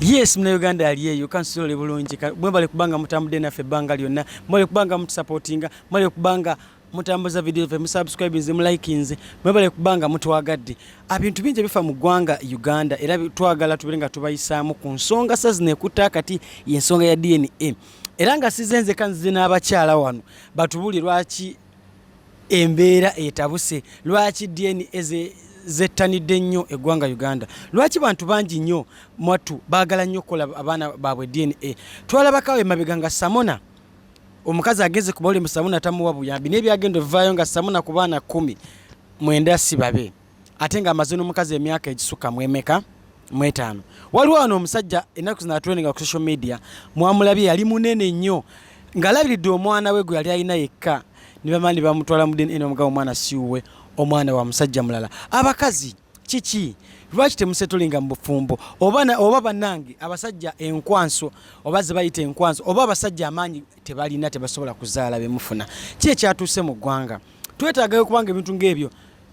yes muna uganda ali eyo kansiole bulungi mwebale kubanga mutambudde naffe ebbanga lyonna mwebale kubanga mutusapotinga mwebale kubanga mutambuza video fe musubscribinze mulikinze mwebale kubanga mutwagadde abintu bingi ebifa mu ggwanga uganda era twagala tubere nga tubayisaamu ku nsonga sa zino ekutta kati yensonga ya dna era nga size nzeka nzize n'abakyala wano batubuli lwaki Embeera etabuse lwaki DNA ze zettanidde nnyo eggwanga Uganda. Lwaki bantu bangi nnyo mwattu baagala nnyo okukola abaana baabwe DNA. Twalabakawo emabega nga Samona omukazi ageze ku bawulemu Samona tamuwa buyambi naye byagenda ovaayo nga Samona ku baana kkumi mwenda si babe. ate nga amaze n'omukazi emyaka egisukka mu emeka mu etaano waliwo wano omusajja ennaku zino atweninga ku social media mwamulabye yali munene nnyo ng'alabiridde omwana we gwe yali alina yekka ne bamani bamutwala mu dna omugabo omwana siwuwe omwana wa musajja mulala abakazi kiki lwaki temusetolinga mu bufumbo oba banange abasajja enkwanso oba zebayita enkwanso oba abasajja amaanyi tebalina tebasobola kuzaala bemufuna ki ekyatuuse mu ggwanga twetaagayo kubanga ebintu ngaebyo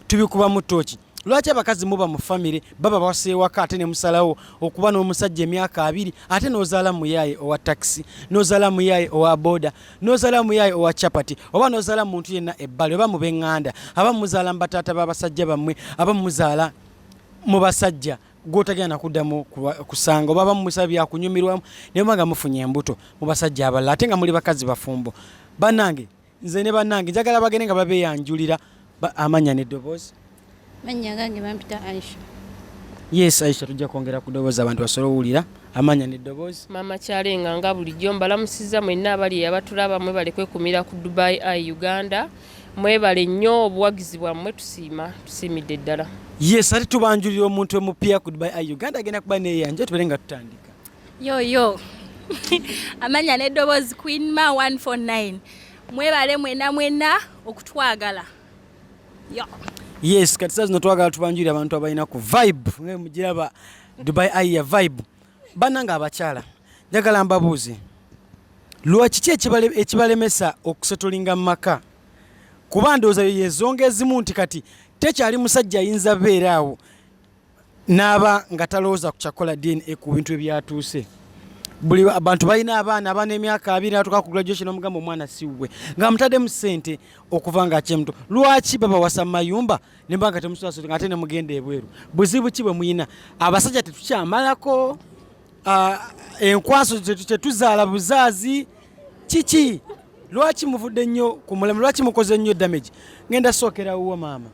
tubikubamu tooki lwaki abakazi muba mu famire baba baseewaka ate nemusalawo okuba n'omusajja emyaka abiri ate nozaala muyaaye owa takisi nozaala muyaaye owa boda nozaala muyaaye owa chapati oba nozaala muntu yenna ebbali oba mu benganda aba muzaala mu bataata babasajja bammwe aba muzaala mu basajja gwotagenda nakuddamu kusanga oba bamumusaba byakunyumirwamu naye oba nga mufunye embuto mu basajja abalala ate nga muli bakazi bafumbo banange nze ne banange njagala bagende nga babeyanjulira amanya ne dobozi manya gange bampita aisha yes aisha tujja kwongera ku dobozi abantu basobola owulira amanya ne dobozi mama kyalenga nga bulijjo mbalamusiza mwenna abali eyabatulaba mwe balekwekumira ku dubai i uganda mwebale nnyo obuwagizi bwammwe tusiima tusiimidde ddala yes ate tubanjulira omuntu emupya ku dubai i uganda agenda kuba neyanja tubeere nga tutandika yo yo amanya n'eddoboozi queen ma 149 mwebale mwena mwena okutwagala yo yes kati saa zino twagala tubanjulira abantu abalina ku vibe nga mugiraba dubai ayi ya vibe banange abakyala njagala mbabuuze lwaki ki ekibalemesa okusetolinga mu maka kuba ndowooza yezonga ezimu nti kati tekyali musajja ayinza beera awo n'aba nga talowooza ku kyakukola dna ku bintu ebyatuuse buli abantu balina abaana abaana emyaka abiri natuka ku graduation omugamba omwana siwwe nga mutaddemu sente okuva nga akyemuto lwaki babawasa mu mayumba nemba nga temusasula nga ate nemugenda ebweru buzibu ki bwe muyina abasajja tetukyamalako enkwaso tetuzaala buzaazi kiki lwaki muvudde nnyo ku mulamu lwaki mukoze nnyo damage ngenda sookera wuwo maama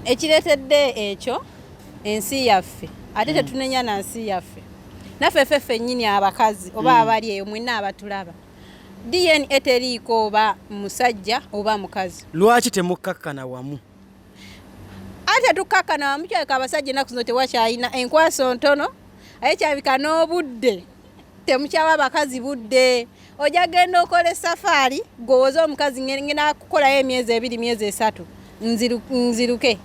ekireetedde ekyo ensi yaffe ate hmm. tetunenya na nsi yaffe naffe ffe ffennyini abakazi oba hmm. abali eyo mwena abatulaba dna teriiko oba musajja oba mukazi lwaki temukkakkana wamu ate tukkakana wamukyalika abasajja enaku zino tewakyalina enkwaso ntono aye kyabika n'obudde temukyawa abakazi budde ojja genda okola esafaari gwowoza omukazi ngena kukolayo emyezi ebiri myezi esatu nziruke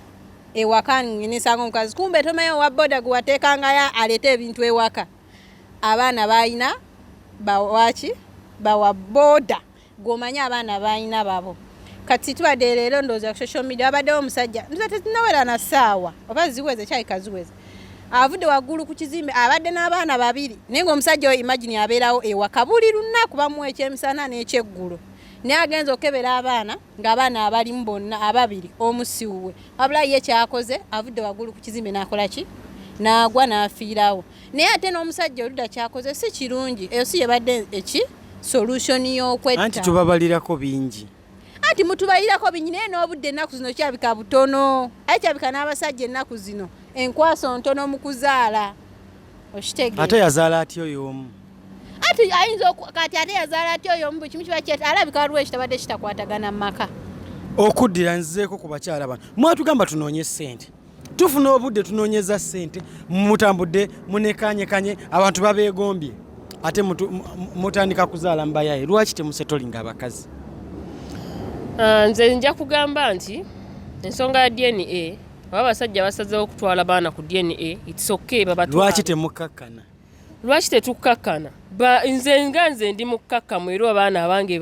ewaka nesanga omukazi kumbe tomaye owa boda gwewateekangayo aleete ebintu ewaka abaana balina bawaki bawa boda gwomanyi abaana balina babo kati tubadde leero ndowooza ku social media wabaddewo omusajja nza tetunawera na saawa oba ziweze kyayika ziweze avudde waggulu ku kizimbe abadde n'abaana babiri naye ngaomusajja oyo imagini abeerawo ewaka buli lunaku bamuwa ekyemisana n'ekyeggulo naye agenza okebera abaana ngaabaana abalimu bonna ababiri omusiwuwe wabula ye kyakoze avudde waggulu ku kizimbe nakolaki naagwa n'afiirawo naye ate n'omusajja oluda kyakoze si kirungi eyo si yebadde eki solution y'okwetta anti tubabalirako bingi anti mutubalirako bingi naye n'obudde ennaku zino kyabika butono aye kyabika n'abasajja ennaku zino enkwaso ntono mu kuzaala okitegeera ate yazaala atya oyo omu ati ayinza kati ate yazaala atya oyo omu buli kimu kiba kyet alabika waliwo ekitabadde kitakwatagana mu maka okuddira nzizeeko ku bakyala bano mwatugamba tunoonye ssente tufuna obudde tunonyeza sente mutambudde munekanyekanye abantu babegombye ate mutandika kuzaala mubayaye lwaki temusetolinga abakazi ah, nze nja kugamba nti ensonga ya dna oba abasajja basazewo okutwala baana ku dna its ok babalwaki temukkakkana lwaki tetukkakkana nze nga nze ndi mukkakkamu era abaana abange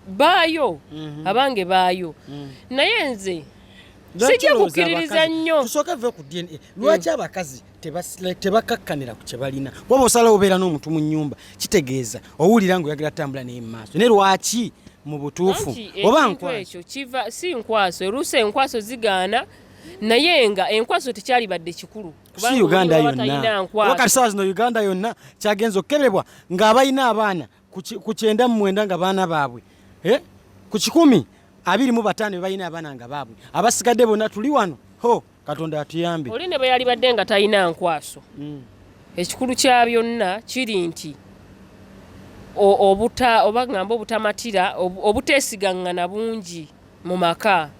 baayo mhm. abange baayo mhm. naye nze sijja kukkiririza nnyo tusooke ve ku dna mm. lwaki abakazi tebakakkanira ku kyebalina kuba osalawo obeera n'omuntu mu nyumba kitegeeza owulira nga oyagala tambula naye mu maaso naye lwaki mu butuufu oba nkwaso kiva si nkwaso oluusi enkwaso zigaana naye nga enkwaso tekyalibadde kikulu si uganda yonna wakati sawa zino uganda yonna kyagenza okukebebwa ng'abalina abaana ku kyenda mu mwenda nga baana baabwe eh? ku kikumi abiri mu bataano bebalina abaana nga baabwe abasigadde bonna tuli wano ho katonda atuyambe oli ne bwe yalibadde nga talina nkwaso hmm. ekikulu kya byonna kiri nti obuta oba ngamba obutamatira obuteesigangana bungi mu maka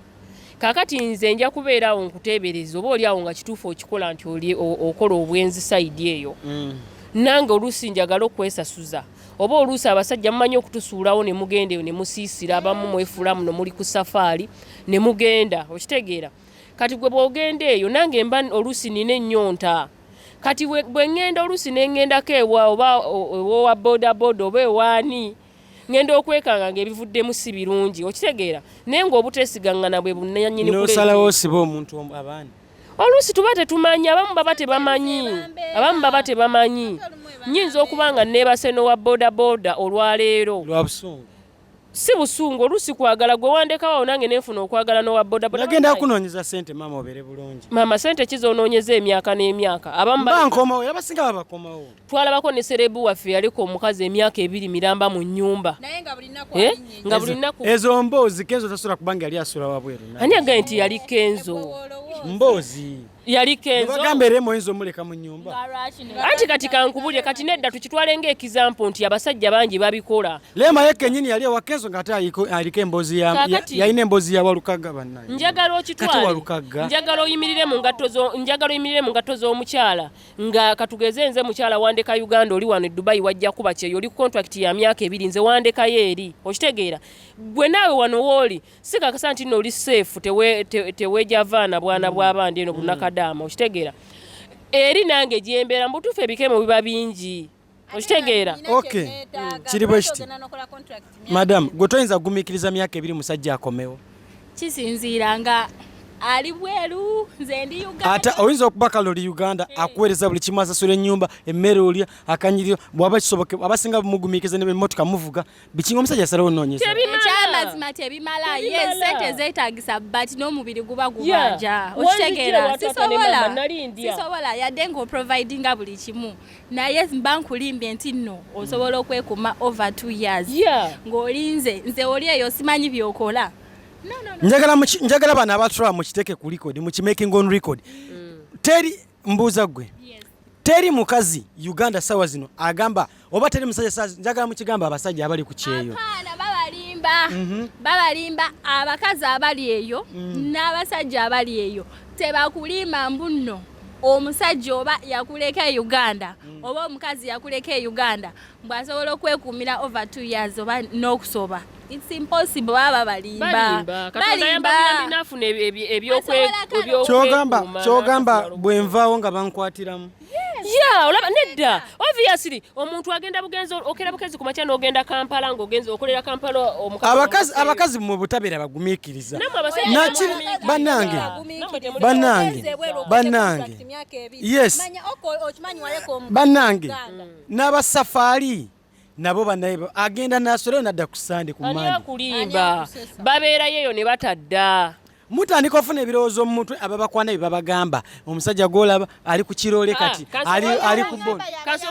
kakati nze nja kubeera awo nkuteebereza oba oli awo nga kituufu okikola nti oli okola obwenzi sayidi eyo mm. nange oluusi njagala okwesasuza oba oluusi abasajja mumanyi okutusuulawo ne mugenda eyo ne musiisira abamu mwefuula muno muli ku safaari ne mugenda okitegeera kati gwe bwogenda eyo nange mba oluusi nina ennyonta kati bwe ŋŋenda oluusi ne ŋŋendako ewa oba ewowa bodaboda oba ewaani ngenda okwekanga nga ebivuddemu si birungi okitegeera naye ngaobutesigangana bwe bunanyininosalawo osiba omuntu abaana oluusi tuba tetumanyi abamu baba tebamanyi abamu baba tebamanyi nyinza okuba nga nebaseno wa bodaboda olwaleero si busungu oluusi kwagala gwe wandekawo awo nange nenfuna okwagala nowa bodabodaagenda kunonyeza sente maama obere bulungi maama sente kizonoonyeza emyaka n'emyaka abamubakomawo era basinga babakomawo twalabako ne serebu waffe yaleka omukazi emyaka ebiri miramba mu nyumba eh? nga buli naku ezo mboozi kenzo tasula kubanga yali asula wabweru ani agaye nti yali kenzo mboozi yali kenzo bagamba era moyinza omuleka mu nyumba anti kati kankubulire kati nedda tukitwale ng'ekizampo nti abasajja bangi babikola leema ye kenyini yali ewa kenzo nga ate aliko emboozi yalina emboozi ya walukaga bannaye njagala okitwale njagala oyimirire mu ngatto njagala oyimirire mu ngatto z'omukyala nga katugeze nze mukyala wandeka uganda oli wano edubayi wajja kuba kyeyo oli contract ya myaka ebiri nze wandekayo eri okitegeera gwe naawe wano wooli sikakasa nti nooli safe tewejavaana te, te bwana mm. bwabandi eno bunakadaama mm. okitegeera eri nange gyembeera mubutuufu ebikemo biba bingi okitegeera okay kiri bwe kiti madamu gwe toyinza kugumikiriza myaka ebiri musajja akomewo kisinziira nga ali bweru nze ndi uganda ate oyinza okuba kale oli uganda hey. Eh. akuweereza buli kimu asasula ennyumba emmere olya akanyiriro bwaba kisoboke abasinga bumugumiikiriza ne bemmotoka muvuga bikinga omusajja asalawo onoonyeza ekyamazima tebimala ye sente zeetagisa but n'omubiri guba gubaja okitegeera sisobola yadde ng'oprovidinga buli kimu naye mba nkulimbye nti nno osobola okwekuma over two years ng'olinze nze oli eyo simanyi byokola njagala bano abatura mukiteeke ku record mukimaking on record mm. teri mbuuza gwe teri mukazi uganda sawa zino agamba oba teri musajja njagala mukigamba abasajja abali ku kyeyo babalimba mhm. babalimba abakazi abali eyo mm. n'abasajja abali eyo tebakulimba mbunno omusajja oba yakuleka e uganda mm. oba omukazi yakuleka e uganda mbu asobola okwekuumira over two years oba n'okusoba it's impossible baba balimba kyogamba kyogamba bwenvaawo nga bankwatiramu ya olaba nedda obviously omuntu agenda bugenzi okera bugenzi ku makya n'ogenda kampala ng'ogenzi okolera kampala abakazi abakazi mu butabeera bagumiikiriza naki banange banange banange yes banange n'aba safari nabo banaye agenda nasoleyo nadda ku sande ku mande kulimba babeerayo eyo ne batadda mutandika ofuna ebirowoozo mu mutwe ababakwana bye babagamba omusajja gwolaba ali ku kiroole ah, kati ali ku boabakazi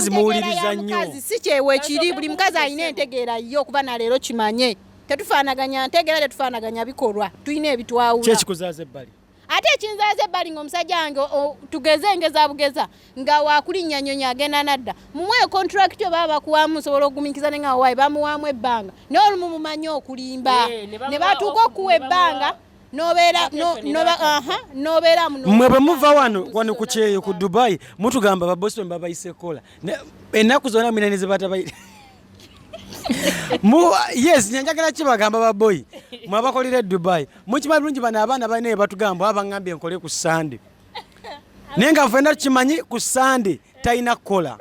muwuliriza nnyo si kyewekiri buli mukazi alina entegeera ye okuba na leero kimanye tetufaanaganya ntegeera tetufaanaganya bikolwa tulina ebitwawula kyekikuzaza ebbali ate ekinzaaza ebbali nga omusajja wange tugeze engeza bugeza nga wakulinnya nyonyi agenda nadda mumuwe contract yo baba bakuwamu osobola okugumikiza ne nga wawayi bamuwamu ebbanga naye olumu mumanyi okulimba eh, ne batuuka okuwa ebbanga mwe bwe muva wano wano ku kyeyo ku dubai mutugamba babosi bwe babayise kola ennaku zona mwina ne zebatabaire yes nyanjagala kibagamba baboyi mwabakolera edubai mukima bulungi bano abaana balina ebatugamba abangambye nkole ku sande naye nga fena tukimanyi ku sande talina kukola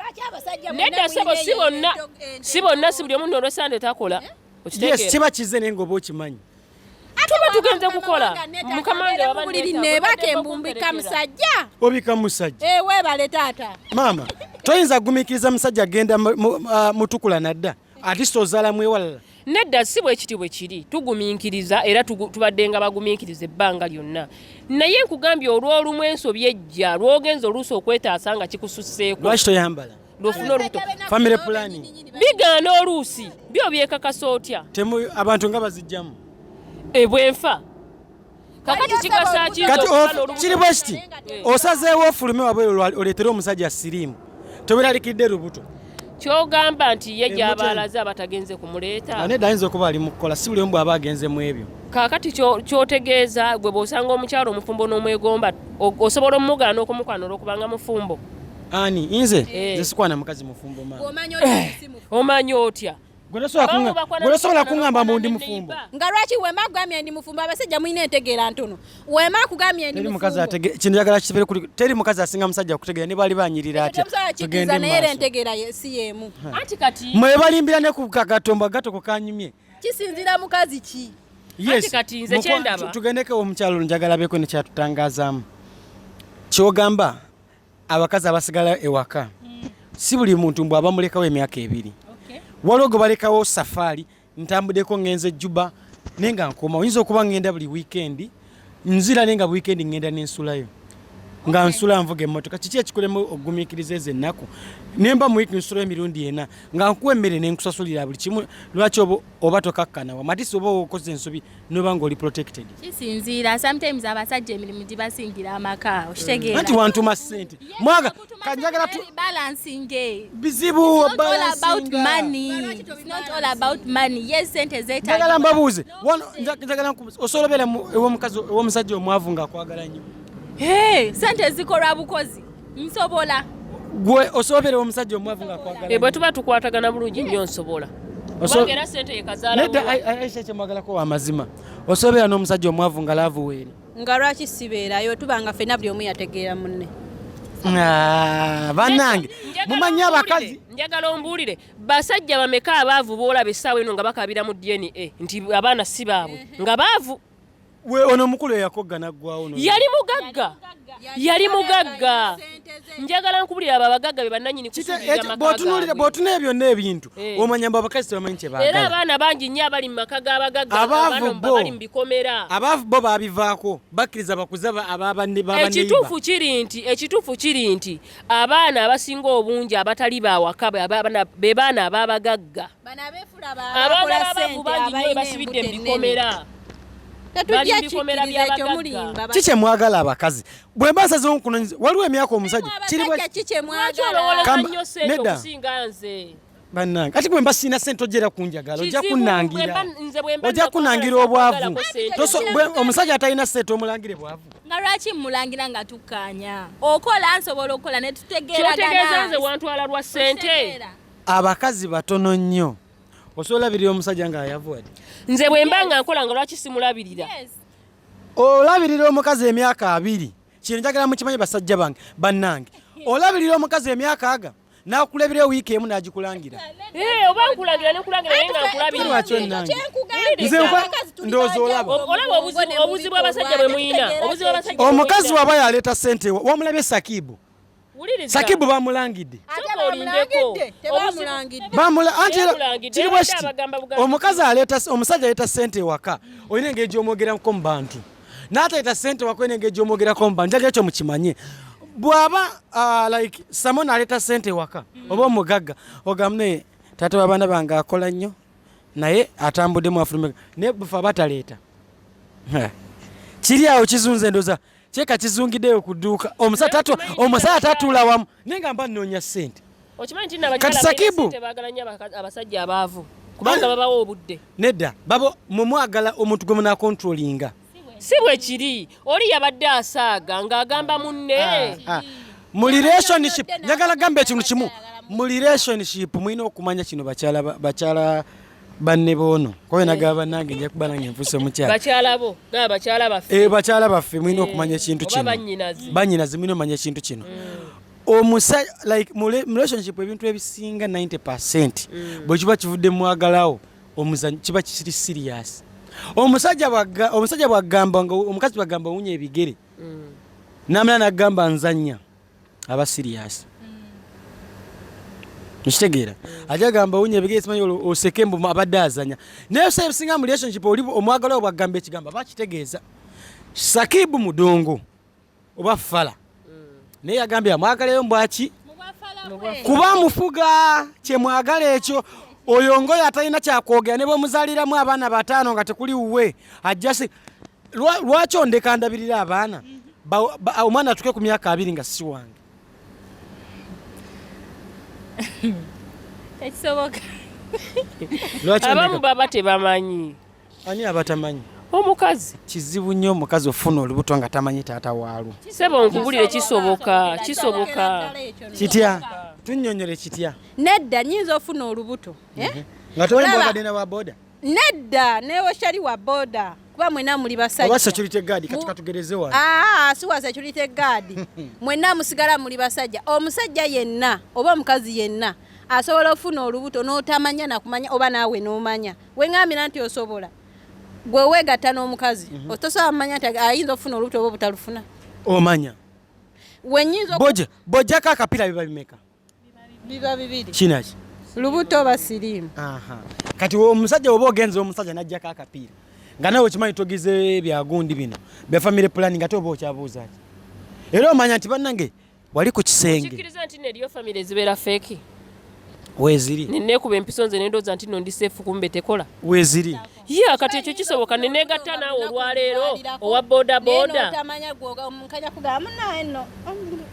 nedda sebo si bonna si bonna si buli omu nolwesande takola eh? yes kiba kize naye ngaoba okimanyi tuba tugenze kukola mukama wange wabuliri nebaka embumbika musajja obika musajja eh, webale taata maama toyinza kugumikiriza musajja agenda ah, mutukula nadda atisa ozala mwewalala nedda si bwekiti bwe kiri tugumiikiriza era tubadde nga bagumiikiriza ebbanga lyonna naye nkugambye olw'olumu ensobi ejja lwogenza oluusi okwetaasa nga kikususeeko lwaki toyambala lwofuna olubuto family planning bigaana oluusi byo byekakasa otya temu abantu nga bazijjamu ebwenfa kakati kikasa kiri bwe kiti osazeewo ofulume wabwe oleetere omusajja siriimu toberalikidde lubuto kyogamba nti ye gyabaalaze abatagenze kumuleeta nedda ayinza okuba ali mukukola si buli omu bwaba agenze mu ebyo kaakati kyotegeeza gwe bwosanga omukyalo omufumbo n'omwegomba osobola omugaana okumukwana olwokubanga mufumbo ani inze eh. nze hey. sikwana mukazi mufumbo mama omanyo eh. si mufumbo omanyo otya gwesobola kuŋamba mbu ndi mufumbo nga lwaki wema akugambye ndi mufumbo abasajja mulina entegeera ntono wema akugambye ndi kintu yagala kibere kuli teri mukazi asinga musajja okutegeera ne bali banyirira atya tugende naye era entegeera si yemu anti kati mwe balimbira ne ku kagatombo gato kukanyumye kisinzira mukazi ki yes kati nze kyendaba tugendeke omukyalo njagala beko ne kyatutangazaamu kyogamba abakazi abasigala ewaka mm. si buli muntu mbw abamulekawo emyaka ebiri waliwo gwe balekawo safaari ntambudeko ngenze ejjuba naye nga nkoma oyinza okuba ngenda buli wiikendi nzira naye nga buli wiikendi ngenda nensulayo nga nsula nvuga emmotoka kiki ekikulemu okugumiikiriza ezo ennaku nemba mu wiiki nsulayo emirundi ena nga nkuwa emmere nenkusasulira buli kimu lwaki oba tokakkana wamatisi oba okoze ensobi noba nga oli protected kisinziira sometimes abasajja emirimu gibasingira amaka okitegeera anti wantuma ssente mwaga kanjagala tu balancing eh. bizibu about money it's not all about money yes sente zeta njagala mbabuuze njagala osobola obeera ew'omusajja omwavu nga akwagala nnyo sente zikolwa bukozi nsobola gwe osobera omusajja omwavu nga kwagala ebwe eh, tuba tukwatagana bulungi nnyo nsobola era sente yekazalaisha kyemwagalako wamazima osobera n'omusajja omwavu nga laavu weeri nga lwaki sibeerayo tuba nga fena buli omu yategeera munne ah, banange mumanyi abakazi njagala ombuulire basajja bameka abaavu boolaba essaawa eno nga bakabira mu dna nti abaana si baabwe nga baavu ono omukulu eyakogga naggwawo yali mugagga yali mugagga njagala nkubulira abo abagagga be bannanyini kusuuliramakabotunula ebyo n'ebintu eh. omanya mbu abakazi tebamanyi kyebagala era abaana bangi nnyo abali mu maka g'abagagga abali mu bikomera abaavu bo babivaako bakkiriza bakuza ababanneyibakituufu kiri nti ekituufu kiri nti abaana abasinga obungi abatali bawaka be baana ababagagga abagala abavu bangi nyo basibidde mu bikomera ki kyemwagala abakazi bwe mba nsazewo nkunonyeza waliwo emyaka omusajja kiriolowoleza nyo sente okusinga nze bannange ati bwemba sirina sente ojera kunjagala ojja kunangira ojja kunangira obwavu omusajja atalina sente omulangire bwavu nga lwaki mulangira nga tukkaanya okola nsobola okukola ne tutegeeraganaa nze wantwala lwa sente abakazi batono nnyo osobola olabirira omusajja nga ayavuwadi nze bwemba nga nkola nga lwaki simulabirira olabirira omukazi emyaka abiri kino njagala mukimanyi basajja bange bannange olabirira omukazi emyaka aga nakulabira wiiki emu nagikulangira eh, oba nkulagira nekulangira naye nga nkulabiraobuzibu abasajja bwe muyina omukazi waba yaleeta sente wamulabye sakibu sakibu bamulangidde kiri bwekiti omukazi omusajja aleeta sente ewaka olina engeri gyomwogeramuko mu bantu n'ataleta sente wakwena engeri gy'omwogerako mba njaga ekyo mukimanye bw'aba uh, like samo n'aleeta sente waka oba omugagga ogamba naye taata w'abaana bange akola nnyo naye atambuddemu afulumeka naye bufe aba taleeta kiri awo kizunza endoza kyeka kizungideyo ku dduuka omusajja tatula wamu Naye nga mba nnoonya ssente. Okimanyi nti nabakyala ssente baagala nnyo abasajja abaavu kubanga babawa obudde. Nedda babo mwe mwagala omuntu gwe munaakontrolinga. Si bwe kiri oli yabadde asaaga ng'agamba munne. Ah, ah. Mu relationship njagala gamba ekintu kimu mu relationship mulina okumanya kino bakyala bakyala banne boono kobe nagaba bannange nja kuba nange nfuuse omukyala bakyala bo gaba bakyala baffe eh bakyala baffe mulina eh, okumanya ekintu kino bannyinazi mulina omanya ekintu kino mm. omusa like mu relationship ebintu ebisinga 90 percent mm. bwe kiba kivudde mwagalawo omuzanyo kiba kiri serious omusajja bwagga omusajja bwagamba nga omukazi bwagamba owunya ebigere mm. namala nagamba nzanya aba serious nkitegeera ajja gamba wunya ebigere simanyi olwo oseke mbu abadde azanya naye osa ebisinga mu relationship oli omwagala obwa gamba ekigambo aba kitegeeza sakibu mudongo oba fala mm. naye yagambye amwagalayo mbwaki kuba mufuga kyemwagala ekyo oyo ngoyo atalina kyakwogera ne bwemuzaliramu abaana bataano nga tekuli wuwe ajjasi lwaki ondeka ndabirira abaana mm. omwana atuke ku myaka abiri nga si wange ekisoboka abamu baba tebamanyi ani abatamanyi omukazi kizibu nnyo omukazi ofuna olubuto nga tamanyi taata waalwo sebo nkubulire kisoboka kisoboka kitya tunyonyole kitya nedda nyinza ofuna olubuto eh? mhm. nga tombabadde na waboda Nedda newe shali wa boda kuba mwena muli basajja oba security guard kati katugereze wano ah, ah si wa security guard mwena musigala muli basajja omusajja yenna oba omukazi yenna asobola ofuna olubuto n'otamanya nakumanya oba naawe n'omanya wengambira nti osobola gwe weegatta n'omukazi mm -hmm. tosobola kumanya nti ayinza okufuna olubuto oba obutalufuna omanya wenyinza bojja bojjako akapira biba bimeka biba bibiri kinaki lubuto oba siriimu kati omusajja oba ogenza omusajja najjako akapiira nga nawe okimanyi togize byagundi bino bya family planning ate oba okyabuuzaki era omanya nti bannange wali ku kisenge weziri nenekuba empiso nze nendoza nti no ndi seefu kumbe tekola weziri ya kati ekyo kisoboka nenegatta naawe olwaleero owa bodaboda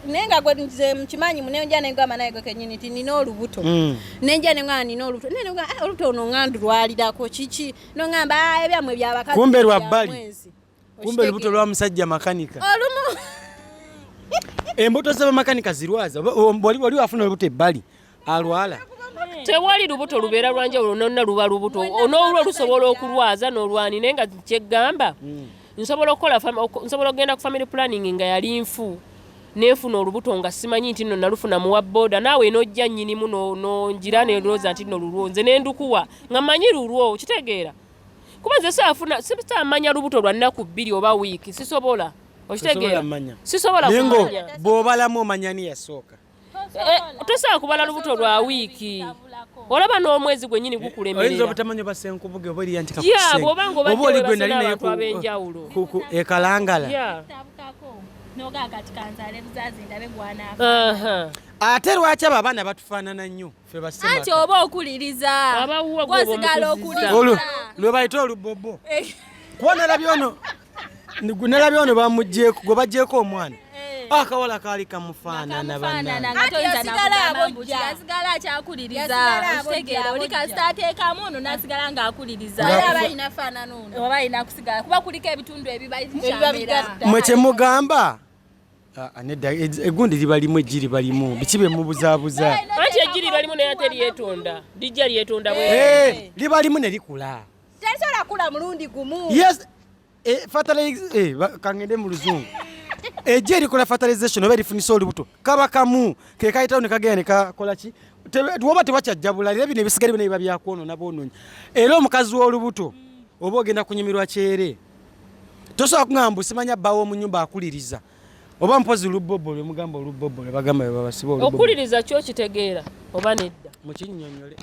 naye nga gwe nze mukimanyi munenja nengamba naye gwe kenyini nti nina olubuto mm. nenja nengamba nina olubuto naye nengamba ah, olubuto ono ngandu lwalirako kiki nongamba ah, ebyamwe byabakazi kumbe lwa bbali kumbe lubuto lwa musajja makanika olumu embuto za bamakanika zirwaza wali wali afuna lubuto ebbali alwala tewali lubuto lubeera lwanjawulo nonna luba lubuto onoolwo lusobola okulwaza n'olwani naye nga kyeggamba hmm. nsobola okukola nsobola okugenda ku family planning nga yali nfu nenfuna olubuto nga simanyi nti no nalufuna muwa boda naawe nojja nyinimu nongira nelwooza nti no lulwo nze nendukuwa nga manyi lulwo kitegeera kuba nze safuna sitamanya lubuto lwa nnaku bbiri oba wiiki sisobola okitegeera sisobola kumanya bw'obalamu omanya ni yasooka eh, tosobola kubala lubuto lwa wiiki olaba n'omwezi gwenyini gukulemerera obutamanya basenkubuge oba eriya ntikaobaoligenalinaebenjawulo ekalangala ate lwaki abo abaana batufaanana nnyo anti oba okuliriza osigala okuliriza lwebayita olubobo eh. kuba nalabye ono nalabye ono bamugyeko gwe bagyeko omwana eh. ah, akawala kaali kamufaanana banasigala akyakuliriza okitegeera oli kasita ateekamu ono nasigala ng'akulirizaoba alina kusigala kuba kuliko ebitundu ebibaamwe kyemugamba Ah, ah, nedda egundi liba limu eggi liba limu biki bye mubuzaabuza anti eggi liba limu naye ate lyetonda lijja lyetonda bwe eh, liba limu ne likula tesobola kula mulundi gumu yes eh, fertilize eh, kangende mu luzungu eggi erikola fertilization oba erifunisa olubuto kaba kamu ke kayitawo ne kagenda ne kakola ki woba tebakyajjabula era bino ebisigale bino biba byakwonona boononyi era omukazi w'olubuto oba ogenda kunyumirwa kyere tosobola kugamba mbu simanya bba w'omu nyumba akuliriza oba mpozi lubobo lwe mugamba olubobo lwe bagamba bwe babasiba olubobo okuliriza kyo kitegeera oba nedda mu kinnyonnyole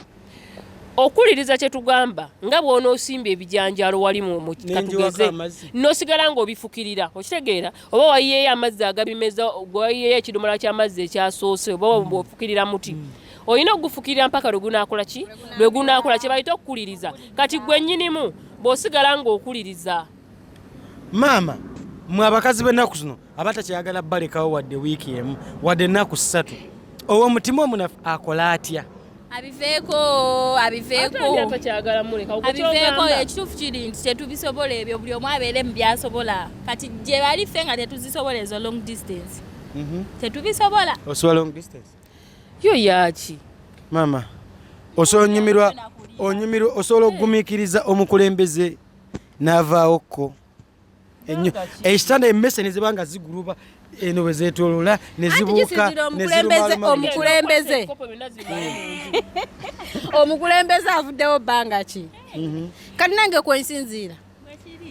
okuliriza kye tugamba nga bw'onoosimba ebijanjaalo wali mu katugeze n'osigala ng'obifukirira okitegeera oba wayiyeeyo amazzi agabimeza wayiyeeyo ekidomola ky'amazzi ekyasoose oba mm. ofukirira muti mm. olina okugufukirira mpaka lwe gunaakola ki lwe gunaakola kye bayita okukuliriza kati gwe nnyinimu bw'osigala ng'okuliriza maama mwe abakazi b'ennaku zino abatakyayagala balekawo wadde wiiki emu wadde ennaku ssatu owo omutima omunafu akola atya abiveeko abiveekoabiveeko ekituufu kiri nti tetubisobola ebyo buli omu abeere mu byasobola kati gye bali ffe nga tetuzisobola ezo long distance mhm. tetubisobola yo yaki mama osonyumirwa onyumirwa osobola okugumikiriza omukulembeze n'avaawo kko enyo ekitanda emmese ne ziba nga ziguluba eno bwe zeetoolola ne zibuuka omukulembeze omukulembeze avuddewo bbanga ki mhm. kati nange kwensinziira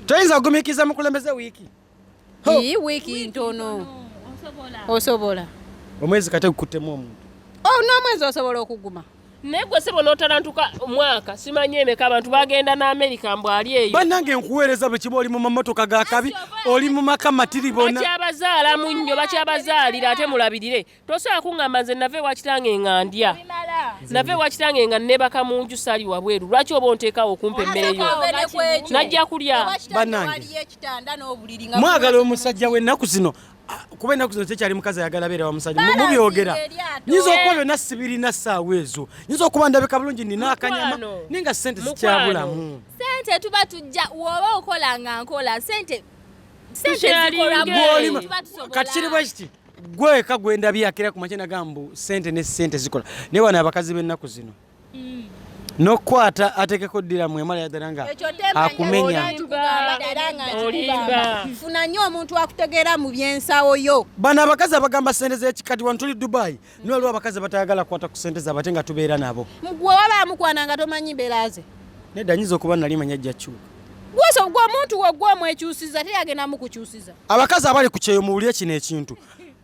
toyinza kugumikiriza mukulembeze wiiki Hii wiki ntono osobola omwezi kate gukuttemu omuntu oh, n'omwezi osobola okuguma naye gwe sebo n'otalantuka omwaka simanyi emeka abantu bagenda ne amerika mbu ali eyo banange nkuweereza bwe kiba oli mu mamotoka ga kabi oli mu maka matiribona bakyabazaalamu nnyo bakyabazaalira ate mulabirire tosobola kuŋŋamba nze nava ewa kitange nga ndya nava ewa kitange nga nebaka mu nju sali wabweru lwaki oba onteekawo okumpa emmere yo najja kulya banange mwagala omusajja w'ennaku zino kuba ennaku zino tekyali mukazi ayagala beera wa musajja mubyogera nyinza okuba byonna sibirina ssaawa ezo nyinza okuba ndabika bulungi nina akanyama naye nga sente zikyabulamu sente tuba tujja woba okola nga nkola sente kati kiri bwe kiti gwe weka gwendabye akera ku makya nagamba sente ne sente zikola naye wano abakazi b'ennaku zino mm. nokukwata atekeko ddira mwemala yadala nga akumenya funa nyo omuntu akutegeera mu byensawo yo bano abakazi abagamba sente zekikati wano tuli dubai Naye waliwo abakazi abatayagala kukwata ku ssente zaabwe ate nga tubeera nabo. Gwe waba amukwana nga tomanyi mbeera ze. Nedda nyinza okuba nali manya ajja kyuka. Gwoso gwe omuntu we gwe omwekyusiza te yagenda mukukyusiza. Abakazi abali ku kyeyo muwulire kino ekintu.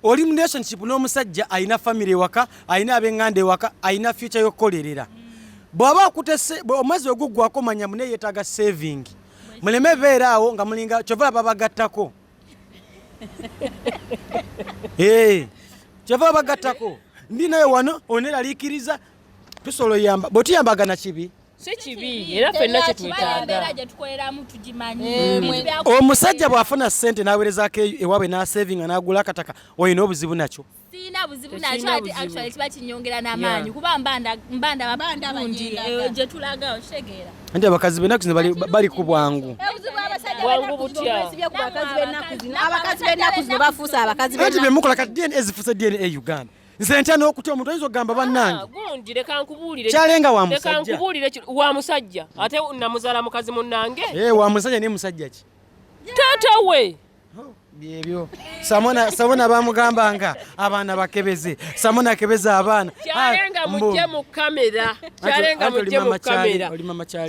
Oli mu relationship n'omusajja alina famire ewaka, alina ab'enganda ewaka, alina future y'okukolerera. Bw'aba akutese omwezi oguggwako manya mune yeetaaga saving. Muleme beera awo nga mulinga kyova babagattako. Eh, kyeva bagattako ndi naye wano oneraliikiriza tusobola oyamba bwetuyambaga na kibi omusajja bw'afuna ssente n'awerezaako ewaabwe n'asevinga n'agula akataka olina obuzibu nakyo sirina buzibu nakyo ate actually kiba kinyongera n'amaanyi kuba mbandababandi eh, gye tulaga okitegeera nti abakazi benaku zino bali ku bwangu abakazi benaku zino bafuuse abakazi nti bemukola ka dna ezifuuse dna e uganda nze ntya n'okutya omuntu oyinza okugamba bannange ah, kyalenga wa musajja ate namuzaala mukazi munnange eh, wa musajja naye musajja ki taata we byebyo samona samona bamugambanga abaana bakebeze samona akebeza abaana kyalenga ah, mujje mu kamera kyalenga mujje mu kamera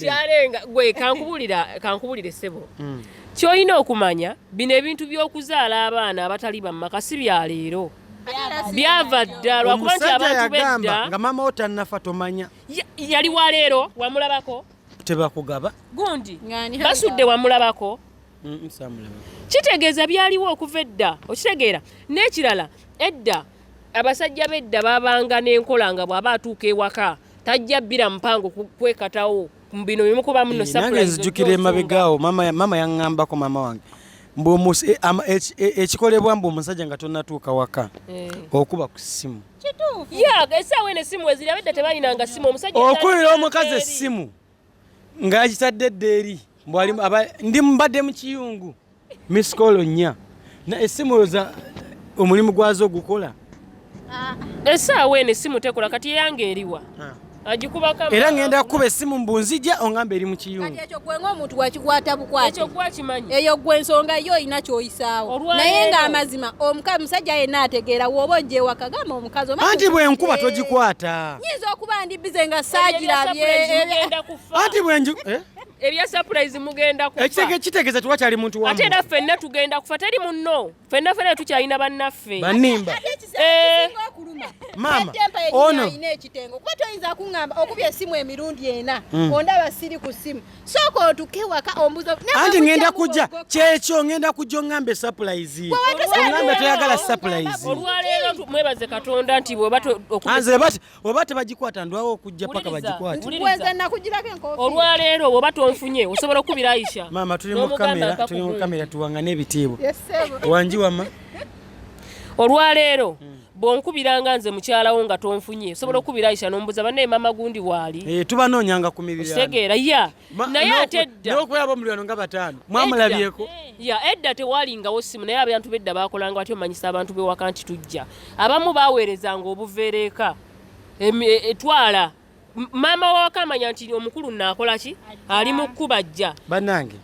kyalenga gwe kankubulira kankubulire sebo mm. kyolina okumanya bino ebintu by'okuzaala abaana abatali bamumaka si bya leero byava dda lwakuba nti abantu bedda nga mama otannafa tomanya yali wa leero wamulabako tebakugaba gundi basudde wamulabako kitegeeza byaliwo okuva edda okitegeera n'ekirala edda abasajja bedda babanga n'enkola nga bw'aba atuuka ewaka tajja bbira mpango kwekatawo bino bimukuba muno eh, nange nzijukira emabegaawo mama yaŋŋambako mama wange Eh, eh, eh, ekikolebwa mbu omusajja nga tonatuuka waka okuba ku ssimu okuwera omukazi essimu ng'akitadde edda eri ndi mbadde mu kiyungu misikolo nnya essimu oza omulimu gwazo ogukola ah. esaawa eno essimu tekola kati eyange eriwa ah. era ŋenda kukuba essimu mbu nzija oŋamba eri mu kiyungueyo gwe ensonga yo olina kyoyisaawo naye ng'amazima omusajja yenna ategeera woba ojja ewaka gamba omukazi anti bwenkuba togikwata bize nga saagirabye anti bwenju eh? ebya surprise mugenda kufa ekitege kitegeza tuwa kyali muntu wamu ate naffe nna tugenda kufa teri munno fenna fena tukyalina bannaffe banimba eh. maama ono ekitengo kuba toyinza kuŋamba okubya esimu emirundi ena hmm. ondaba siri ku simu sooka otuke waka ombuzo anti ngenda kujja kyekyo ngenda kujja oŋamba esupplize oŋamba toyagala supplize olwaleero mwebaze katonda nti bwebaanze oba tebagikwata ndwawo okujja paka bagikwate nakugirako enkofi olwaleero woba tonfunye osobola okukubira aisha maama tuli mu kamera tuli mu kamera tuwangane ebitiibwa wangi wama olwaleero mm. bwonkubiranga nze mukyalawo nga tonfunye osobola mm. okukubira aisha nombuza banaye mama gundi waali eh, tubanoonyanga ku mibiri kitegeera ya naye ate edda n'okubeera ab'omulirano nga bataano mwamulabyeko ya edda tewalingawo simu naye abantu bedda baakolanga batyo omanyisa abantu bewaka nti tujja abamu baweerezanga obuveereeka e, etwala maama wawaka amanya nti omukulu naakola ki ali mu kkuba jja bannange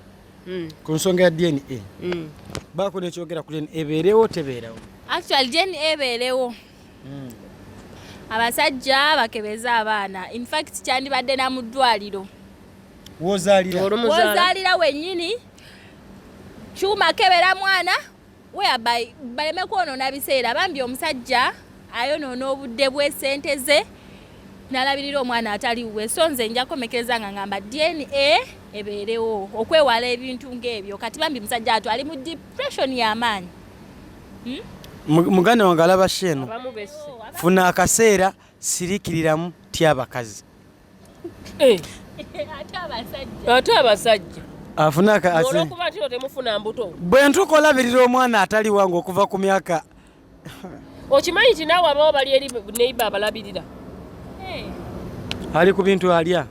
mm. ku nsonga ya dna mm. baako nekyogera ku dna ebeerewo tebeerawo actual dna ebeerewo abasajja bakebeze abaana infact kyandibadde na mu ddwaliro wozaalira wenyini kyuma kebera mwana weaby baleme kwonoona biseera bambi omusajja ayonoona obudde bwe sente ze nalabirira omwana atali wuwe so nze nja komekereza nga ngamba dna ebeerewo okwewala ebintu ng'ebyo kati bambi musajja atu ali mu depression y'amaanyi muganda wange alaba sheeno funa akaseera sirikiriramu tya abakazi eh. ate abasajja bwe ntukolabirira omwana atali wange okuva ku myaka okimanyi nti naawe abawo bali eri neiba abalabirira eh. ali ku bintu alya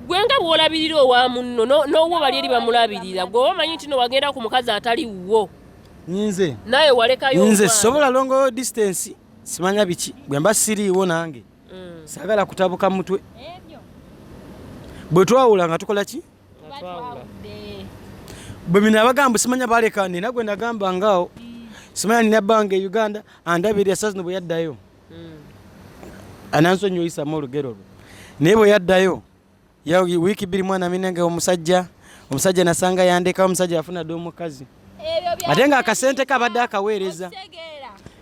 gwe nga bwolabirira owa munno n'owo bali eri bamulabirira gwe oba omanyi nti no wagenda ku mukazi atali wuwo nyinze naye walekayo nyinze sobola longo distance simanya biki bwemba siriiwo nange mm. sagala kutabuka mutwe bwe twawula nga tukola ki bwe mina abagamba simanya baleka nina gwe nagamba ngaawo simanya nina bange e uganda andabirira saa zino bwe yaddayo mm. anansonyiwa oyisamu olugero lwe naye bwe yaddayo ya wiiki bbiri mwana minenge omusajja omusajja nasanga yandekawo omusajja yafuna dda omukazi ate nga akasente kabadde akaweereza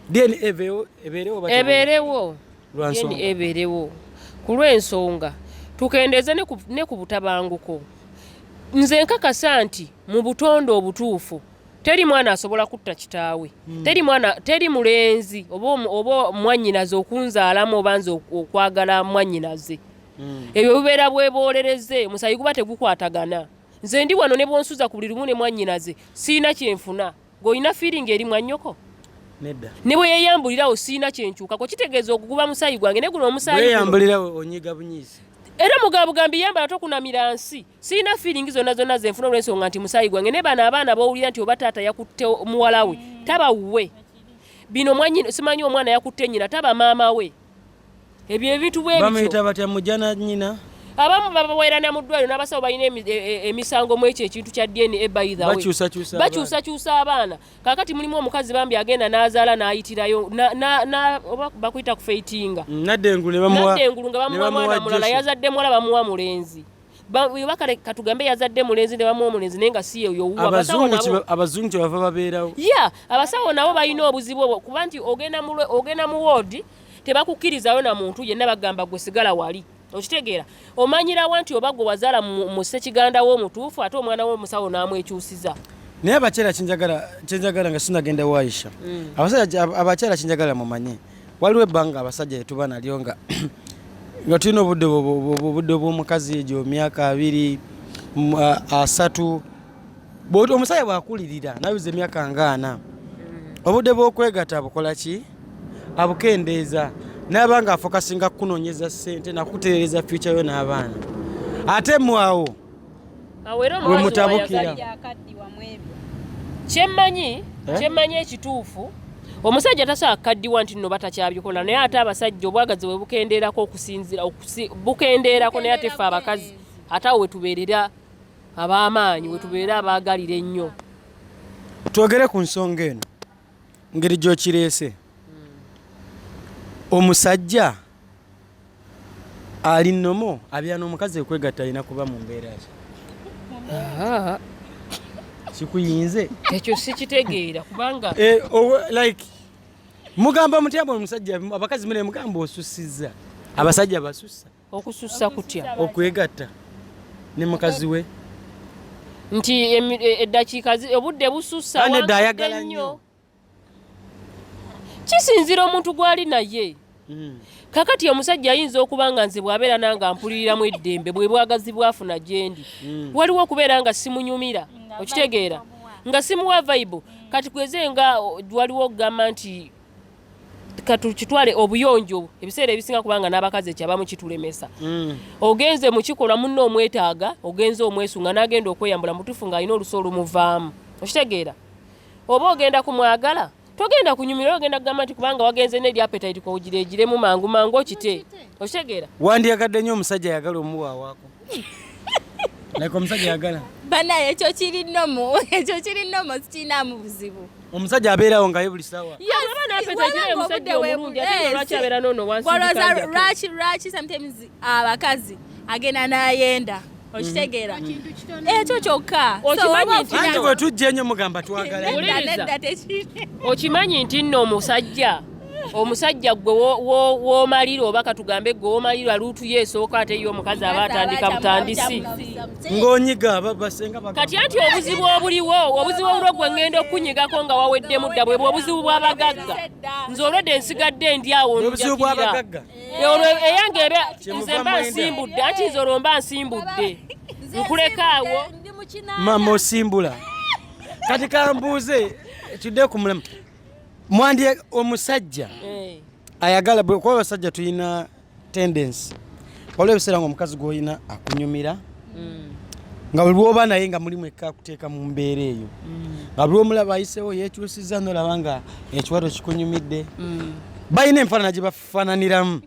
deni ebeerewo ebeerewo ku lw'ensonga tukendeeze ne ku butabanguko nze nkakasa nti mu butonde obutuufu teri mwana asobola kutta kitaawe hmm. teri mwana teri mulenzi oba mwanyinaze okunzaalamu oba nze okwagala mwanyinaze hmm. ebyo bubeera bweboolereze omusayi guba tegukwatagana nze ndi wano ne bwonsuza ku buli lumu ne mwannyinaze siina kyenfuna ng'olina fiiringi eri mwannyoko nedda ne bwe yeeyambulirawo siina kyenkyukako kitegeeza okuguba musayi gwange ne guno omusayiyeyambulirawo onyiga bunyizi era mugabugambi yambala tokunamira nsi sirina fiiringi zonna zonna zenfuna olwensonga nti musayi gwange ne bano abaana bowulira nti oba taata yakutte muwala we taba wuwe bino mwanyina simanyi omwana yakutte nyina taba maama we ebyo ebintu bwe bityo bamuyita batya mujana nyina abamu babaweerana mu ddwaliro n'abasawo balina e, e, emisango mu ekyo ekintu kya dna bakyusakyusa abaana kakati mulimu omukazi bambi agenda n'azaala n'ayitirayo bakuyita kufeitinga mm, naddengulu nga bamuwa mwana mulala yazadde muwala bamuwa mulenzi bakale katugambe yazadde mulenzi ne bamu omulenzi naye nga si yeyo abazungu kyebava babeerawo ya abasawo nabo balina obuzibu obwo kuba nti ogenda mu woodi tebakukkirizayo na muntu yenna bagamba gwe sigala wali okitegeera omanyirawa nti oba gwe wazaala mu ssekiganda wo omutuufu ate omwana wo omusawo n'amwekyusiza naye abakyala kyenjagala nga sinagenda waisha mm. abakyala kyenjagala mumanye waliwo ebbanga abasajja yetuba nalyo nga nga tulina obudde obudde bw'omukazi egyo myaka abiri asatu bwoti omusajja bwakulirira nayuza emyaka ngaana mm. obudde bwokwegata bukola ki abukendeeza naba nga afokasinga kukunonyeza sente nakutereereza fyuca yo n'abaana ate mwawo wemutabukira kyemmanyi eh? kyemmanyi ekituufu omusajja tasobola kukaddiwa nti nno batakyabikola naye ate abasajja obwagazi bwe bukendeerako okusinzira bukendeerako naye ate ffe abakazi ate awo wetubeerera ab'amaanyi we tubeere abaagalira ennyo. Twogere ku nsonga eno ngeri gy'okireese. Omusajja ali nnomo abeera n'omukazi ekwegatta alina kuba mu mbeera ki? Kikuyinze? Ekyo sikitegeera kubanga eh, like mugamba mutya bwe omusajja abakazi mune mugamba osussizza abasajja basussa okusussa kutya okwegatta ne mukazi we nti e, eddakiika obudde busussa nedda ayagala nnyo kisinzira omuntu gwali naye mm. kakati omusajja ayinza okuba nga nze bwabeera nange ampuliriramu eddembe bwe bwagazi bwafuna gyendi mm. waliwo okubeera nga simunyumira okitegeera nga simuwa vaibu kati kweze nga waliwo okugamba nti katukitwale obuyonjo obwo ebiseera ebisinga kubanga n'abakazi ekyabamu kitulemesa mm. ogenze mu kikolwa munno omwetaaga ogenze omwesunga n'agenda okweyambula mutufu ng'alina olusi olumuvaamu okitegeera oba ogenda ku mwagala togenda kunyumira ogenda kugamba nti kubanga wagenze neri apetite kowugira egiremu mangu mangu okite okitegeera wandyagadde nnyo omusajja ayagala omuwawaako like omusajja yagala bana ekyo kiri nomo ekyo kiri nomo sikinaamu buzibu omusajja abeerawo ngaye buli sawa lwaki lwaki sometimes abakazi agenda nayenda okitegeera mm-hmm. ekyo eh, kyokka okimanyi nti nno omusajja omusajja gwe womalira oba katugambe gwe womalira luutu yo esooka ate yo omukazi aba atandika butandisi ngonyiga babasenga kati anti obuzibu obuliwo obuzibu obuliwo gwe ngenda okunyigako nga waweddemu dda bwebwe obuzibu bwabagagga nze olwedde nsigadde ndi awo njakirira olwo eyange ebe nze mba nsimbudde anti nze olwo mba nsimbudde nkulekaawo mama osimbula kati kambuuze ekidde ku mulema mwandi omusajja eh. ayagala kuba abasajja tulina tendensi waliwo ebiseera nga omukazi gwolina akunyumira mm. nga buli lwoba naye nga mulimu ekka kuteeka mu mbeera eyo mm. nga buli omulaba ayisewo yekyusiza nolaba nga ekiwato kikunyumidde mm. balina enfaanana gye bafaananiramu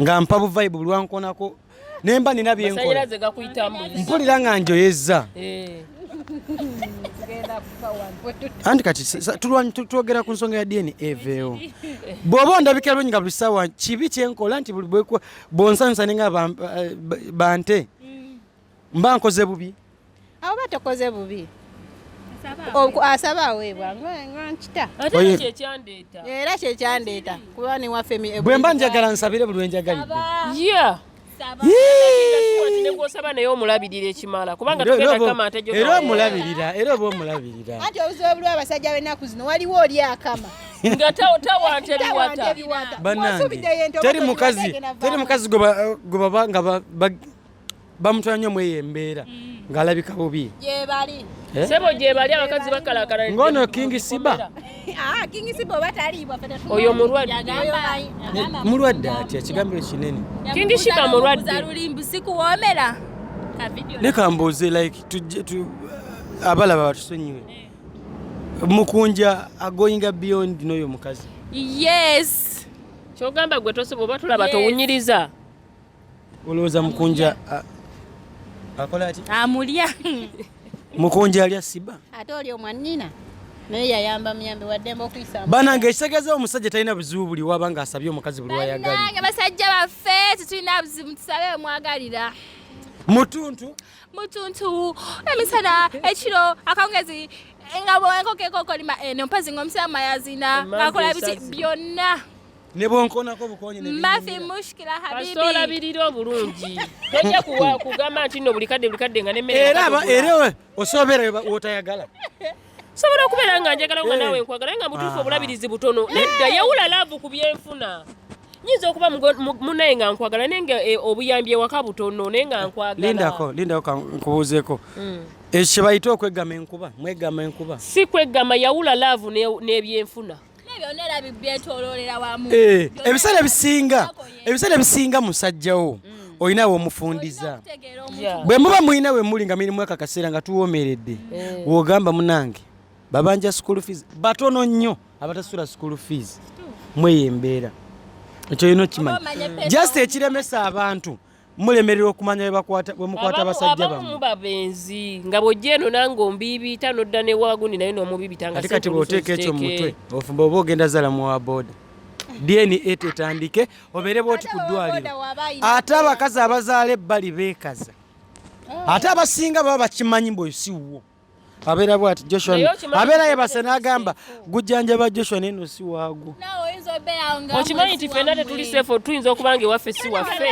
nga mpa buvaibu bulwankonako nemba nina byenkola mpulira nga njoyezza eh. anti kati twogera ku nsonga ya dna eveewo bw'oba ondabika lwenyi nga buli ssaawa kibi kyenkola nti buli bwonsanyusa ninga bante mba nkoze bubi awo batokoze bubi asaba aweebwa nkita era kyekyandeeta kuba newaffe bwe mba njagala nsabire buli wenjagalidde negwosaba naye omulabirira ekimala kubanga era omulabirira era oba omulabirira anti obuzibu obuliwo abasajja benaku zino waliwo oli akama nga tawantebibwata teri mukazi gwe baba nga bamutwala nnyo mweyo embeera mm. ng'alabika bubi gyebali eh? sebo gyebali abakazi bakalakala ngono kingi siba ah, kingi siba oba taliibwa oyo mulwadde atya kigambiro kinene kingi siba mulwaddelulimbu sikuwoomera leka mbuuze like abalaba batusonyiwe eh. mukunja agoinga beyond n'oyo mukazi yes kyogamba gwe tosobola oba tulaba towunyiriza Olowooza mukunja akola ati? Amulya. Mukunja alya siba. Ate oli omwannina naye yayamba muyambi waddembe okuyisa banange ekitegeeza omusajja talina buzibu buli waba nga asabye omukazi buli wayagalnange basajja baffe tetulina buzibu tusabe omwagalira mutuntu mutuntu emisana ekiro akawungezi nga bwenkoko ekokolima eno eh, mpazi nga omusiraamu ayazina ngakola biti byonna ne bwonkonako bukonye ne mafi mushkila habibi kasita olabirira obulungi tojja kuwa kugamba nti no buli kadde buli kadde nga ne mere era ba era osobera wotayagala sobola okubeera nga njagala nga eh. nawe nkwagala nga mutuufu obulabirizi butono eh. nedda yawula laavu ku byenfuna nyinza okuba munaye nga nkwagala naye nga eh, obuyambi ewaka butono naye nga nkwagala lindako lindako nkubuuzeeko hmm. ekyo kye bayita okweggama enkuba mweggama enkuba si kweggama yawula laavu n'ebyenfuna ne Eh, ebiseera ebisinga ebiseera ebisinga musajjawo mm. olina womufundiza bwe muba mulina we muli nga mirimu aka kaseera nga tuwomeredde eh. wogamba munange babanja school fees batono nnyo abatasula school fees mweyo embeera ekyo yina okimanya just ekiremesa abantu mulemerera okumanya bwemukwata abasajja bamu babenzi nga bwojja eno nange ombiibiita nodda newagundi naye nomubiibita nga kati bwoteeka ekyo mumutwe ofumba oba ogenda zala muwa boda dna tetandike obeere bwoti ku ddwaliro ate abakazi abazaala ebbali beekaza ate abasinga baba bakimanyi mbu esiwwo abeera bwati joshua abeera yebase n'agamba gujjanjaba joshua naye no si waagwo okimanyi nti fenna tetuli sefu tuyinza okuba nga ewaffe si waffe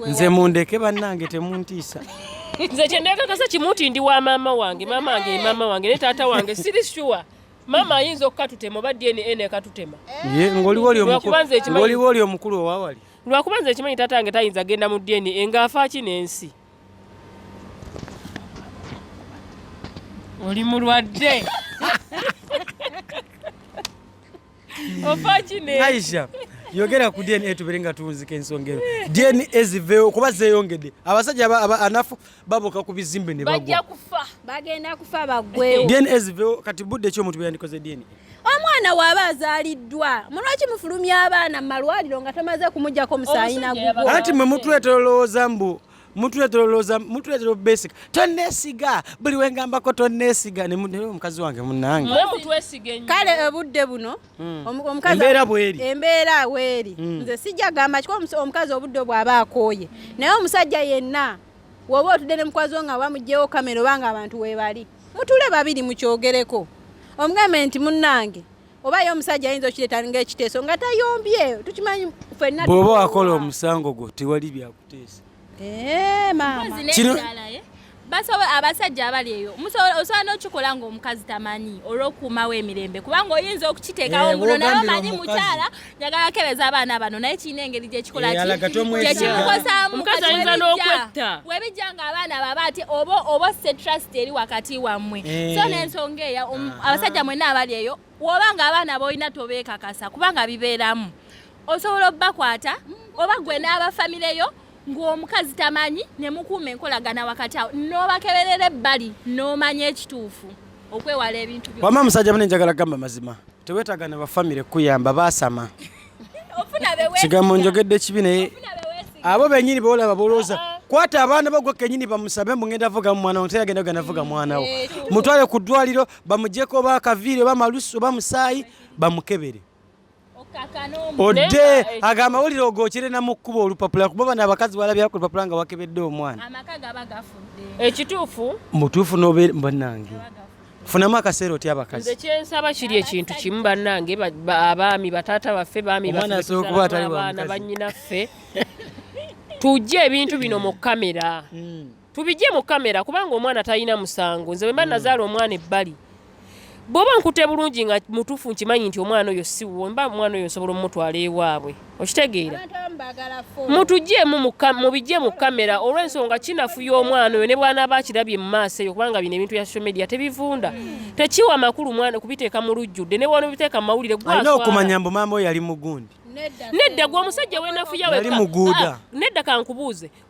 nze mundeke bannange temuntiisa nze kyendekakasa kimu nti ndi wa maama wange maama wange maama wange ne taata wange siri sure maama ayinza okukatutema oba dna nekatutema ng'oliwo oli omukulu owawali lwakuba nze ekimanyi taata wange tayinza genda mu dna ng'afaaki n'ensi oli mulwadde Aisha yogera ku DNA tubere nga tunzika ensonga eno. DNA ziveewo kuba zeeyongedde. Abasajja anafu baboka ku bizimbe ne bagwa. Bajja kufa. Bagenda kufa bagwe. DNA ziveewo kati budde ki omuntu bwe yandikoze DNA? omwana waaba azaaliddwa mulwaki mufulumya abaana mu malwaliro nga tomaze kumujjako omusaayi nagugo anti mwe mutuleetera olowooza mbu mutuleetera olowooza mutuleetera obesiga tonneesiga buli wengambako tonneesiga naye omukazi wange munange kale obudde buno hmm. embeera bweri embeera weeri hmm. nze sijja gamba kiko omukazi obudde bw'aba akooye naye omusajja yenna woba otudde ne mukwazi wo nga bamugyewo kamera oba nga abantu webali mutule babiri mukyogereko omugambe nti munnange oba ye omusajja ayinza okireta nga ekiteeso nga tayombye tukimanyi fenna bwoba wakola omusango gwo tewali byakuteesa eh, eh? basobola abasajja abali eyo osobola n'okikola ngaomukazi tamanyi olwokuumawo emirembe kubanga oyinza okukiteekawo eh, muno naye omanyi mukyala njagala kebeza abaana bano naye kirina engeri gyekikolakyekikukozaamu omukazi ayinza n'okwetta webijja nga abaana baba ati oba oba osse trust eri wakati wammwe eh. so n'ensonga eyo um, ah. abasajja mwenna abali eyo woba nga abaana boolina tobeekakasa kubanga bibeeramu osobola obakwata oba gwe n'abafamireyo ng'omukazi tamanyi ne mukuuma enkolagana wakati awo n'obakeberera ebbali n'omanya ekituufu okwewala ebintu byo wama musajja mune njagala gamba mazima tewetaaga na bafamire kukuyamba baasama kigambo njogedde ekibi naye abo benyini beolaba bolooza ah, ah. kwata abaana bagwe kenyini bamusabe mbu ngenda vuga mu mwana wonte agenda gana vuga mwana wo eh, mutwale ku ddwaliro bamujeko ba kaviire ba malusu ba musaayi bamukebere odde eh, ago amawulire ogokere na mu kkuba olupapula kuba bano abakazi balabyaku olupapula nga wakebedde omwana ekituufu mutuufu nobe banange funamu akaseera otya abakazi nze kyensaba kiri ekintu kimu bannange abaami bataata baffe baami baana bannyinaffe tujje ebintu bino mu kamera hmm. tubijje mu kamera kubanga omwana talina musango nze wemba mm. nazaala omwana ebbali bwoba nkute bulungi nga mutufu nkimanyi nti omwana oyo siwo mba omwana oyo nsobola omumutwala ewaabwe okitegeera mutujemu mubijje mu kamera olwensonga kinafu y'omwana oyo ne bwanaaba akirabye mu maaso eyo kubanga bino ebintu bya social media tebivunda mm. tekiwa makulu mwana kubiteeka mu lujjudde ne bwana obiteeka mu mawulire gwalina okumanya mbu maama oyo yali mugundi nedda gwe omusajja wenafuya weka ah, nedda kankubuuze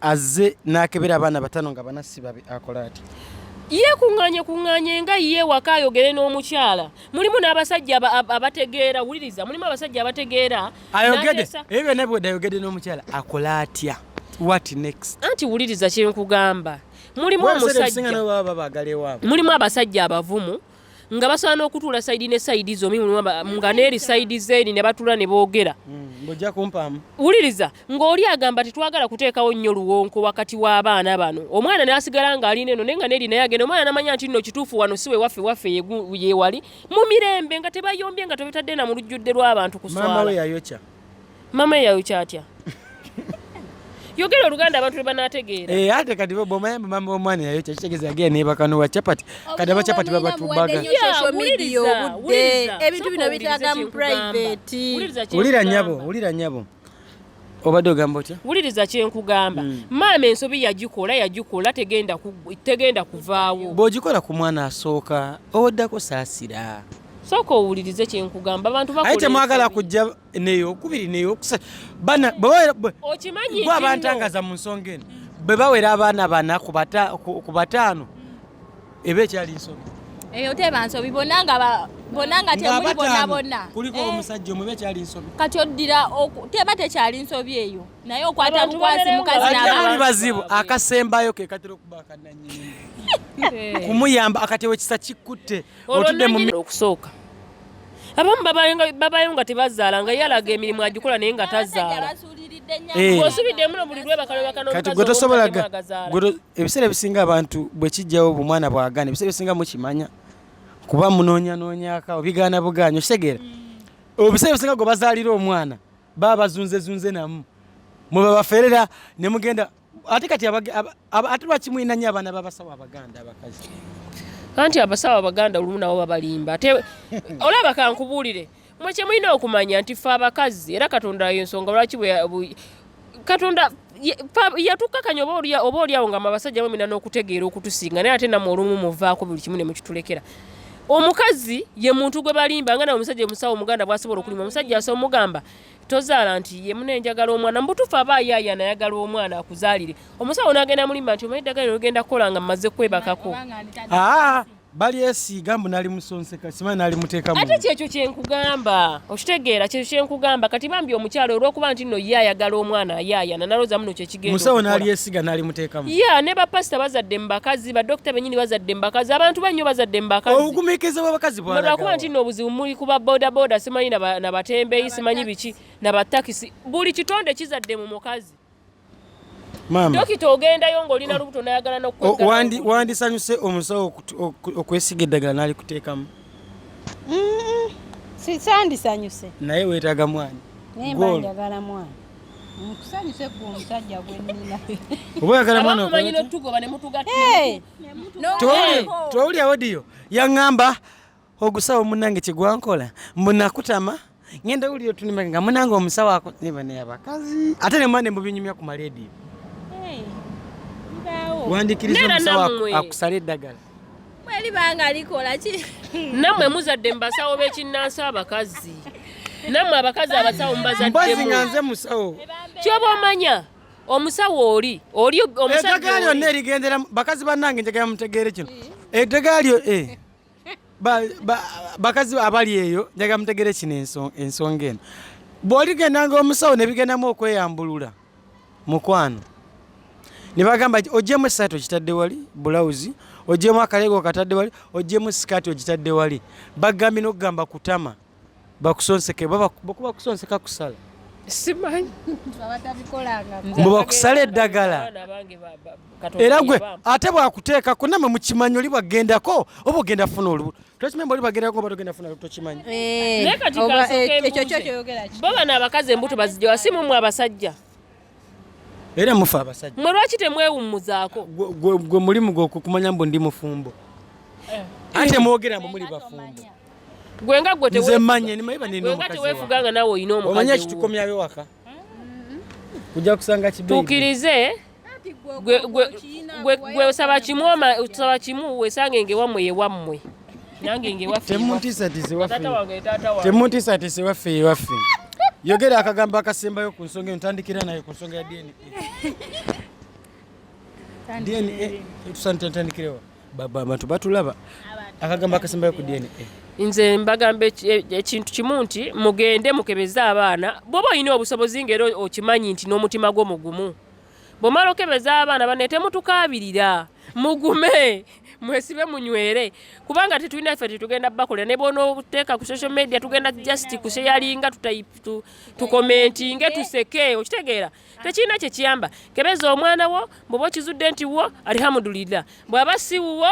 azze n'akebera abaana batano nga bana sibabe akola ati yeekuŋŋaanye kuŋŋaanye nga ye waka ayogere n'omukyala mulimu n'abasajja abategeera wuliriza mulimu abasajja abategeera ayogede ebyo byonna bwedde ayogede n'omukyala akola atya what next anti wuliriza kyenkugamba mulimu omusajja mulimu abasajja abavumu nga basobola n'okutuula sayidi ne sayidi zomi nga neeri sayidi zeeri ne batuula ne boogera hmm, wuliriza ng'oli agamba tetwagala kuteekawo nnyo luwonko wakati w'abaana bano omwana n'asigala ng'alina eno naye nga neeri naye agenda omwana namanya nti nno kituufu wano si wewaffe waffe yewali mu mirembe nga tebayombye nga tebetadde na mu lujjudde lw'abantu kuswala mama yayokya atya yogera oluganda abantu lwebanategeera eh, ate kati bwomanya mama womwana yayokya kitegeza yagenda nebakanowa chapati kati aba chapati babatubaga ebintu bino bitaga mu private wulira nyabo wulira nyabo obadde ogamba otya wuliriza kyenkugamba hmm. maama ensobi yagikola yagikola tegenda kuvaawo bwogikola ku mwana asooka owoddako saasira sooka owulirize kyenkugamba abantu baye temwagala kujja neyo okubiri neyo okusatu bana okimanyi gwe abantangaza mu nsonga eno bwe bawera abaana bana ku bataano eba ekyali nsobi eyo teba nsobi bonna nga bonna nga temuli bonna bonna kuliko eh. omusajja omubi ekyali nsobi kati oddira teba tekyali nsobi eyo naye okwata bukwasi mukazi nabaali bazibu akasembayo ke katera okuba akananyini kumuyamba akatewo ekisa kikutte otudde mu okusooka abamu babayo nga tebazaala nga yalaga emirimu agikola naye nga tazaala eh. kati gwe tosobolaga ebiseera ebisinga abantu bwe kijjawo bumwana bwagana ebiseera ebisinga mukimanya kuba munoonyanonyaka obigaana bugaanyi okitegeera mm. obiseera ebisinga gwe bazaalira omwana baba bazunzezunze namu mwe babaferera ne mugenda ate kati ate lwaki mulina nyo abaana babasawo abaganda abakazi anti abasawo abaganda olumu nabo babalimba ate olaba kankubuulire mwe kyemulina okumanya nti fe abakazi era katonda yensonga lwaki katonda yatukakanya oba olyawo nga mabasajja bamina n'okutegeera okutusinga naye ate namwe olumu muvaako buli kimu ne mukitulekera omukazi ye muntu gwe balimba nga nawe omusajja omusawo omuganda bwasobola okulima omusajja asobola omugamba tozaala nti ye mune njagala omwana mubutuufu aba ayaaya nayagala omwana akuzaalire omusawo nagenda mulimba nti omanyi eddagala nogenda kukola nga mmaze kwebakako ah, balyesiiga mbu nali musonseka simanyi nali muteekamu ate kyekyo kyenkugamba okitegeera kyekyo kyenkugamba kati bambi omukyalo olwokuba nti nno ye ayagala omwana ayaayana nalooza muno kyeki musawo nalyesiga nalimutekamu ya ne bapasita bazadde mubakazi badokita benyini bazadde mubakazi abantu banyo bazadde mubakazi obugumiikiriza bwabakazi bwalwakuba nti no obuzibu muli kuba bodaboda simanyi nabatembeyi simanyi biki nabatakisi buli kitonde kizadde mu mukazi dokita ogendayo ngaolina oh. lubuto nayagala nokuwandisanyuse oh, omusawo okwesiga eddagala nalikuteekamu sisandisanyuse naye wetaga mwana nembanjagala mwana Nkusanyuse gwe omusajja gwe nnina. Oba oyagala mwana okole. Abamanyi n'otugoba ne mutugatta. Tewuli tewuli awodiyo yaŋŋamba ogusawo munnange kye gwankola mbu nakutama ngenda wulira otunima nga munnange omusawo ako ne bane abakazi ate ne mwana mbubinyumya ku maleediyo. Wandikiriza omusawo akusala eddagala. libanga likola ki namwe muzadde mubasawo bekinnansi abakazi namwe abakazi abasawo mubazaddemu nga nze musawo kyoba omanya omusawo oli oli omusaddagaali yonna erigendera bakazi bannange njagala mutegeere kino eddagaali e bakazi abali eyo njagala mutegeere kino ensonga eno bw'oligenda nga omusawo ne bigendamu okweyambulula mukwano ne bagamba nti ojjemu esaati okitadde wali bulawuzi ojjemu akaleega okatadde wali ojjemu sikaati ogitadde wali bagambye nokugamba kutama bakusonseke bakuba kusonseka kusala simanyi mbu bakusala eddagala era gwe ate bwakuteekako namwe mukimanyi oli bwagendako oba ogenda funa olubu twekimemba oli bagerako oba togenda funa tokimanyi eh, naye kati eh, bo bano abakazi embuto bazijawa si mumwe abasajja era mufa abasajja mwe lwaki temwewummuzaako gwe mulimu gwokumanya mbu ndi mufumbo eh. ate mwogera mbu muli bafumbo gwe nga gwe nze manya nimaye banenenga tewefuga nga nawe olina omukazi omanya kitukomyayo waka kujja kusanga kibetukirize gwe osaba kimu osaba kimu wesange nge wammwe ye wammwe nange nge waffetemuntisatisi waffe ye waffe yogera akagambo akasembayo ku nsonga eno tandikira naye ku nsonga ya dna dna tusantandikirewa abantu batulaba akagambo akasembayo ku dna nze mbagamba e, ekintu kimu nti mugende mukebeze abaana bwoba olina obusobozi ngaera okimanyi nti n'omutima gwo mugumu bwomala okebeza abaana bane temutukabirira mugume mwesibe munywere kubanga tetulina ffe tetugenda bakolera ne bona okuteeka ku social media tugenda just kusheyalinga tukomentinge tuseke okitegeera tekirina kyekiyamba kebeza omwana wo bwoba okizudde nti wo alihamudulira bwaba siwuwo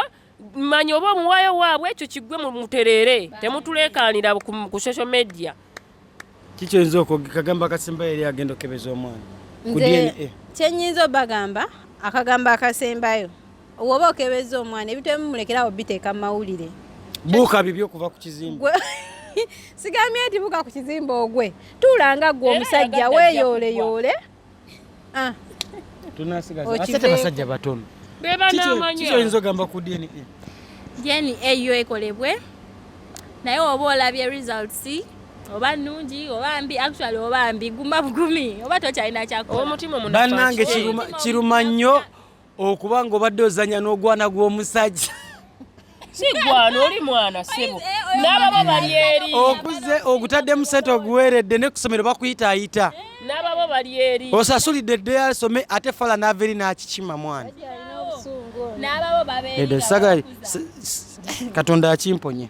manya oba omuwayo waabwe ekyo kigwe mutereere temutuleekaanira ku social media kikyoyinza okukagamba akasemba eri agenda okebeza omwana ku dna kyenyinza obagamba akagambo akasembayo woba okebeza omwana ebitemu mulekerawo biteeka mu mawulire buuka bibyo okuva ku kizimba sigambye nti buuka ku kizimba ogwe tuulanga gwe omusajja weyooleyole Ah. Tunasigaza. Ate tebasajja batono. Beba namanyo. Kizo inzo gamba ku DNA. DNA eyo ekolebwe. Naye oba olabye results oba nungi oba mbi actually oba mbi guma bugumi oba tokyalina kyakola. Omutima omunafu. Banange kiruma kiruma nnyo. okuba nga obadde ozanya n'ogwana gw'omusajja sigwana oli mwana sebo eh, eh, n'ababa bali eri okuze ogutaddemu sente oguweeredde ne kusomero bakuyitaayita eh. n'ababa bali eri osasulidde dde asome ate fala n'ava eri n'akikima mwana n'ababo babeera katonda akimponye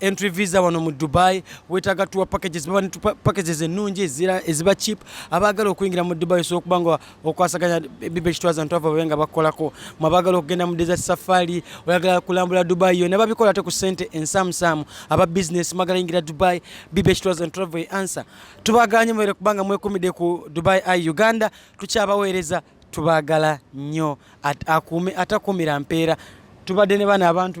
entry visa wano mu dubai wetaga tuwa packages baba netupa packages ennungi ezira eziba cheap abaagala okuyingira mu dubai osobola okuba nga okwasaganya bibe kitwaza ntu ava babe nga bakolako mu abaagala okugenda mu desert safari oyagala kulambula dubai yona babikola ate ku sente ensamusaamu aba business magala yingira dubai bibe kitwaza ntu ava answer tubaganye mwere kubanga mwekumide ku dubai i uganda tukyabaweereza tubagala nnyo akuume atakuumira mpeera tubadde ne bana abantu